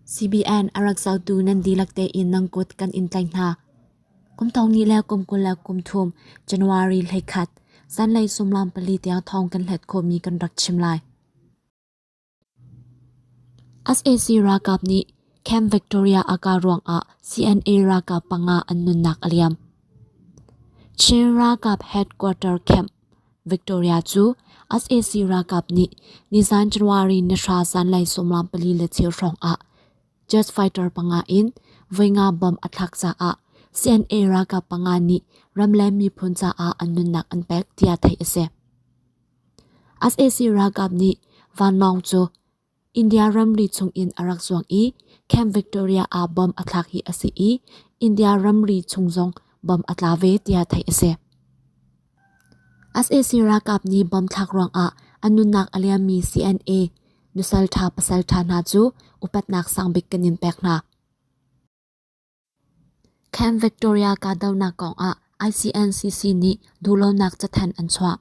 CBN a rak zotu nan dihlak tein nang kut kan in tlaih hna. Kum thong ni le kum kul le kum thum January hleikhat zanlei sumlam pali tiang thong kan hlet khawhmi kan rak chim lai. SAC ralkap nih Camp Victoria aka ruangah CNA ralkap panga an nunnak a liam. Chin ralkap headquarter camp Victoria cu sac ralkap nih nizan January ni hra zanlei sawmlam pali le cheu hrawng ah jet fighter panga in voi nga bom a thlak caah CNA ralkap panga nih ram le miphun caah an nunnak an pek tiah theih a si. sac ralkap nih vanlawng cu India ramri chungin a rak zuang i Camp Victoria ah bom a thlak hi a si i India ramri chung zong bom a tla ve tiah theih a si. SAC ralkap nih bom thlak ruangah an nunnak a liammi CNA nusal ṭha pasal ṭha hna cu upatnak sangbik kan in pek hna. Camp Victoria kahdohnak kongah ICNCC nih duhlonak cathanh an chuah.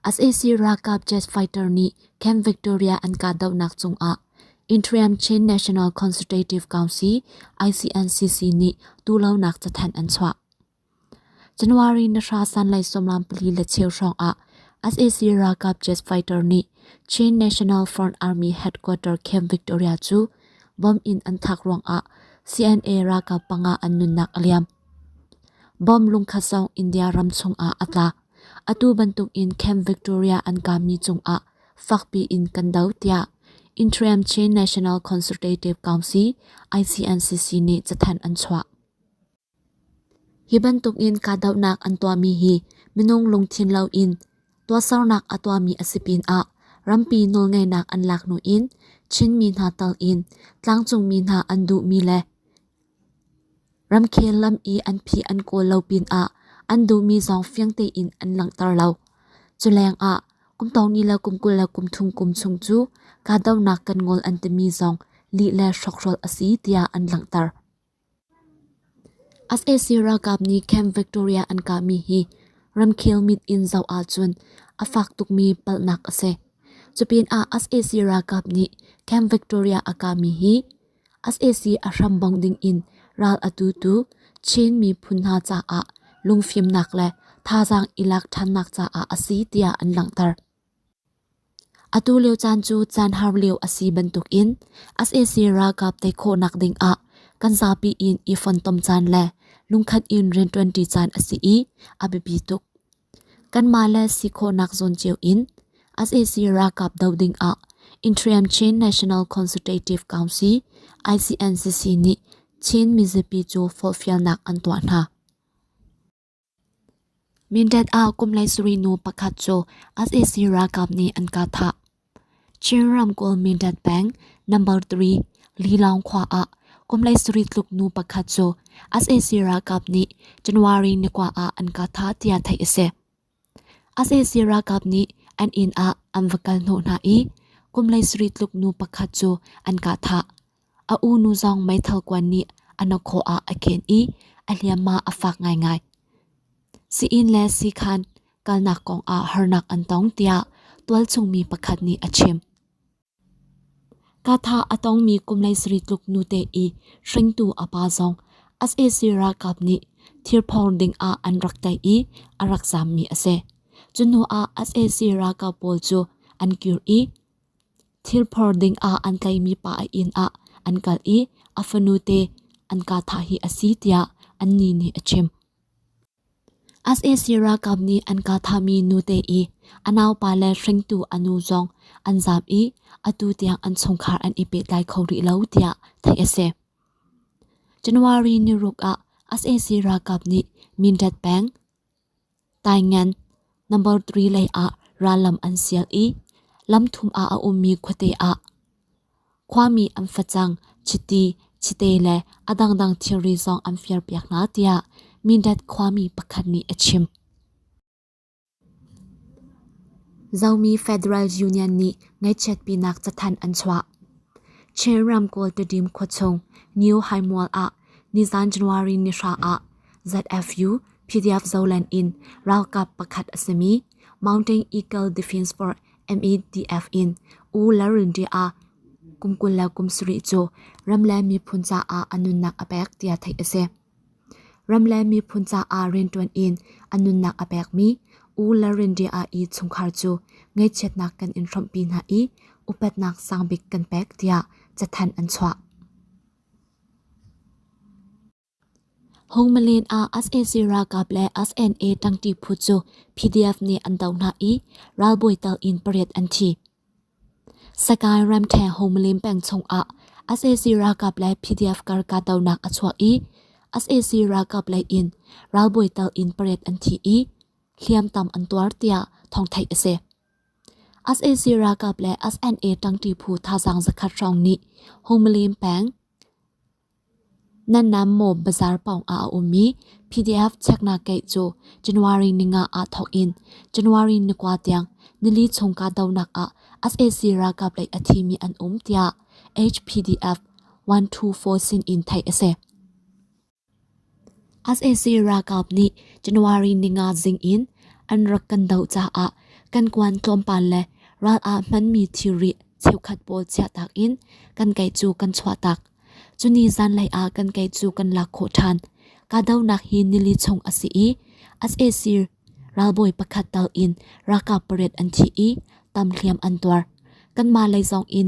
sac ralkap jet fighter nih Camp Victoria an kahdohnak cungah Interim Chin National Consultative Council ICNCC nih duhlonak cathanh an chuah. January na hra sanlai sawmlam pali le cheu hrawng ah SAC ralkap jet fighter nih Chin National Front Army headquarter Camp Victoria cu bomb in an thak ruang ah CNA ralkap panga an nunnak a liam. Bomb lungkhatsawng India ram chung ah a tla. Atu bantuk in Camp Victoria an kami cung ah fakpi in kan do tiah Interim Chin National Consultative Council ICNCC nih cathanh an chuah. Hi bantukin kahdohnak an tuahmi hi minung lungthin loin tuahsernak a tuahmi a si pinah rampi nawlngeihnak an laknu in Chinmi hna tal in tlangcungmi hna an duhmi le ramkhel lam i an phi an kawl lo pinah an duhmi zong fiang tein an langhter lo. Culengah kum tawni le kum kul le kum thum kum chung cu kahdohnak kan ngol an timi zong lih le hrokhrawl a si tiah an langhter. sac ralkap nih camp victoria an kahmi hi ramkhel mit in zoh ahcun a fak tukmi palhnak a si cupinah sac ralkap nih camp victoria a kahmi hi sac a hram bongh dingin ral a tutu chin miphun hna caah lungfimnak le thazaang i lak ṭhannak caah a si tiah an langhter Atu lio caan cu caan har lio a si bantukin sac ralkap tei khawhnak dingah kan zapi in i fontom caan le lungkhat in rianṭuanṭi caan a si i a biapi tuk. Kanmah le si khawhnak zawn cio in sac ralkap doh dingah Interior Chin National Consultative Council ICNCC nih Chin mizapi cu forhfialnak an tuah hna. Mindat ah kum le sarih nu pakhat cu sac ralkap nih an ka thah. Chin ramkulh Mindat peng number three Lilawng khua ah kum le sarih tluk nu pakhat cu sac ralkap nih January ni kua ah an ka thah tiah theih a si. Sac ralkap nih an inn ah an va kal hnawh hna i kum lei sarih tluk nu pakhat cu an kah thah. A u nu zong meithal kuan nih a hnakhaw ah a khen i a hliamhma a fak ngaingai. Si-inn le si-khan kalnak kong ah harnak an tong tiah tualchung mi pakhat nih a chim. Ka tha a tongmi kum le saritluk nute i hringtu a pa zong sac ralkap nih thirphawng ding ah an rak tlaih i a rak zammi a si. Cu hnu ah sac ralkap pawl cu an kir i thirphawng ding ah an tlaihmi pa a inn ah an kal i a fanute an ka thah hi a si tiah an nih nih a chim. sac ralkap nih an ka thahmi nute i a naupa le hringtu a nu zong an zaam i atu tiang an chungkhar an i pehtlai kho rih lo tiah theih a si. January niruk ah sac ralkap nih Mindat peng Taingan number 3 lei ah rallam an sial i lam thum ah a ummi khuate ah Khuami an facang, chiti, chite le a dangdang thilri zong an firpiak hna tiah Mindat khuami pakhat nih a chim. Zomi Federal Union nih ngaihchiatpinak cathanh an chuah. Chin ramkawl Tedim khuachung New Haimual ah nizan January ni hra ah ZFU PDF zolen in ralkap pakhat a simi Mountain Eagle Defense for MEDF in U Larindri a kum kul le kum sarih cu ram le miphun caah a nunnak a pek tiah theih a si. Ram le miphun caah rianṭuan in a nunnak a pekmi U Larindri i chungkhar cu ngaihchiatnak kan in hrawmhpi hna i upatnak sangbik kan pek tiah cathanh an chuah. Hungmalen ah sac ralkap le SNA ṭangṭi phu cu PDF nih an doh hna i ralbawi tal in pariat an thi. Sakae ramṭheng Hungmalen peng chungah sac ralkap le PDF kar kahdohnak a chuak i sac ralkap lei in ralbawi tal in pariat an thi i hliamtam an tuar tiah thawngtheih a si. sac ralkap le SNA ṭangṭi phu thazaang zakhat hrawng nih Hungmalen peng Nan nam maw bazaar pawng ah a um i PDF cheknak keih cu January ni nga ah thawk in January ni kua tiang nili chung kahdohnak ah sac ralkap lei a thimi an um tiah HPDF 124 sin in theih a si. sac ralkap nih January ninga zing in an rak kan doh caah kan kuan tlawmpal le ral ah hmanmi thilri cheukhat pawl chiahtak in kan kei cu kan chuahtak. Cuni zanlei ah kan kei cu kan lak khawh ṭhan. Kahdohnak hi nili chung a si i sac ralbawi pakhat tal in ralkap pariat an thi i tam hliam an tuar. Kanmah lei zong in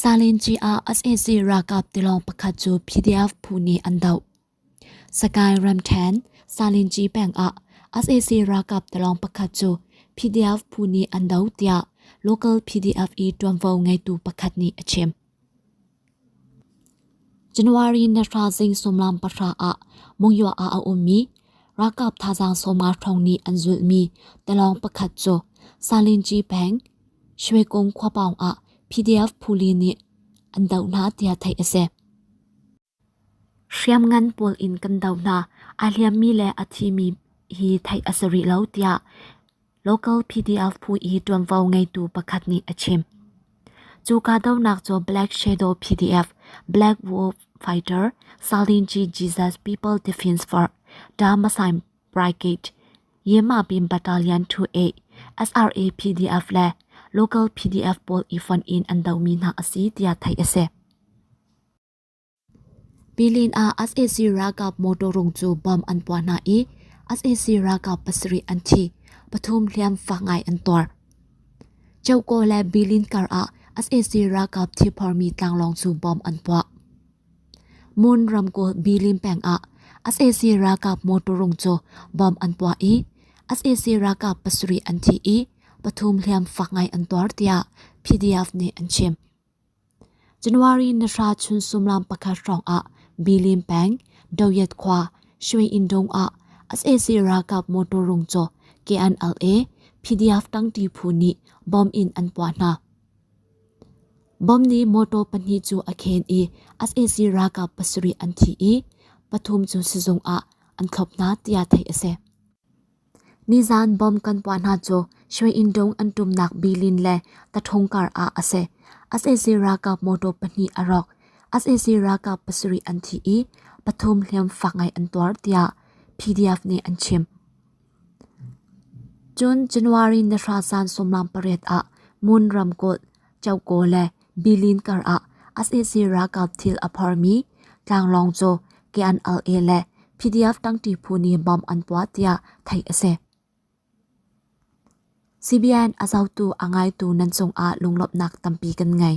Salenci ah sac ralkap tilawng pakhat cu PDF phu nih an doh. Sagaing ramṭhen, Salenci peng ah sac ralkap tilawng pakhat cu PDF phu nih an doh tiah local PDF i ṭuanvo ngeitu pakhat nih a chim. January na hra zing sumlam pahra ah Mungyawa ah a ummi ralkap thazaang sawma hrawng nih an zulhmi tilawng pakhat cu Salinci peng Shwekung khuapaung ah PDF puli nih an doh hna tiah theih a si. Hriamngan pawl in kan doh hna, a hliammi le a thimi hi theih a si rih lo tiah Local PDF phu i ṭuanvo ngeitu pakhat nih a chim. Cu kahdohnak cu Black Shadow PDF, Black Wolf Fighter, Salinji Jesus People Defense Force, Dharmasai Brigade, Yemabin Battalion 28, SRA PDF le Local PDF pawl i fonh in an domi hna a si tiah theih a si. Pilin ah sac ralkap motor rung cu bomb an puah hna i sac ralkap pasarih an thi, pathum hliam fak ngai an tuar. Ceuko le Bilin kar ah sac ralkap thipharmi tlanglawng cu bomb an puah. Mun ramkulh Bilin peng ah sac ralkap motor rung cu bomb an puah i sac ralkap pasarih an thi i pathum hliam fak ngai an tuar tiah PDF nih an chim. January nihra chun sumlam pakhat hrawng ah Bilin peng Doyet khua Shwe Indong ah SAC ralkap motor rung caw KNLA PDF tangti phu nih bomb in an puah hna. Bomb nih motor pahnih cu a khen i SAC ralkap pasarih an thi i pathum cu sizung ah an thlop hna tiah theih a si. Nizan bomb kan puah hna cu Shwe-in Dong an tumnak Bilin le Tathong kar ah a si. SAC ralkap motor pahnih a rawk. SAC ralkap pasarih an thi i pathum hliam fak ngai an tuar tiah PDF nih an chim. Cun January nahra zan sawmlang pariat ah Moon ramkulh Choco le Bilin kar ah SAC ralkap thil a phormi tlanglawng cu KNLA le PDF tangti phu nih bom an puah tiah theih a si. CBN a zotu a ngaitu nan cung ah lunglawmhnak tampi kan ngei.